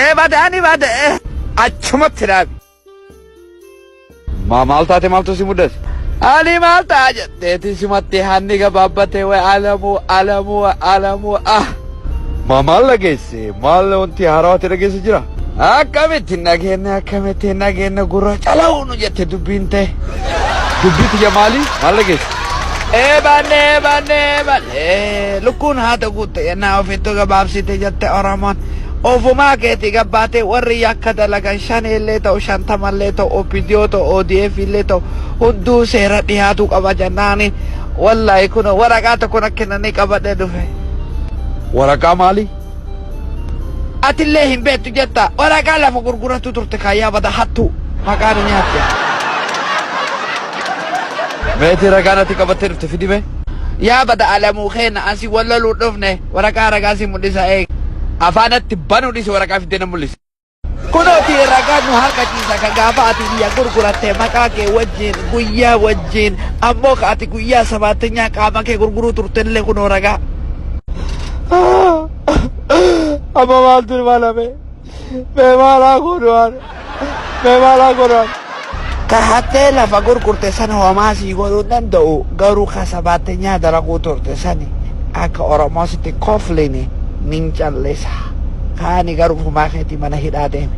Ee badaa ni bada ee achumatti dhaabi. Maa maal taate maaltu si mudate? Ani maal ta'a jetteeti simatti hanni gabaabbatee way alamuu alamuu way alamuu ah. Maa maal dhageesse? Maal wanti haarawaa ta'e dhageesse jira? Akkamitti hin dhageenye akkamitti hin dhageenye gurra cala'uu nu jette dubbiin ta'e. Dubbii tiyya maali? Maal dhageesse? Eebanne eebanne eebanne lukkuun haata guutte yennaa ofittu gabaabsite jette Oromoon. Ofumaa keetii gabbaatee warri yakka dalagan shaneellee ta'u shantamallee ta'u OPDO ta'u ODF illee ta'u hunduu seera dhihaatuu qaba jennaani wallahi kun waraqaa tokko na kennanii qabadhee dhufe. Waraqaa maalii? Atillee hin beektu jetta. Waraqaa lafa gurgurattu turte kaayyaa bada hattuu. Maqaa nu nyaatte. Meetii ragaa natti qabattee dhufte fidime. Yaa bada alamuu keenya ansi wal loluu dhufne waraqaa ragaa si mul'isa eeg. Afaanatti banuu dhisi waraqaa fiddee na mul'isi. Kunooti ragaan nu harka ciisa kan gaafa ati biyya gurguratte maqaa kee wajjin guyyaa wajjin ammoo ka ati guyyaa sabaattinyaa qaama kee gurguruu turtellee kunoo ragaa. Amma maaltu ilma lame? Mee maalaa godhuwaan? Mee maalaa godhuwaan? Ka hattee lafa gurgurte san homaa sii godhuu hin danda'u garuu ka sabaattenyaa dalaguu turte sani akka Oromoo sitti kofline nin callisa. Kaani garuu ofumaa keetii mana hidhaa deemi.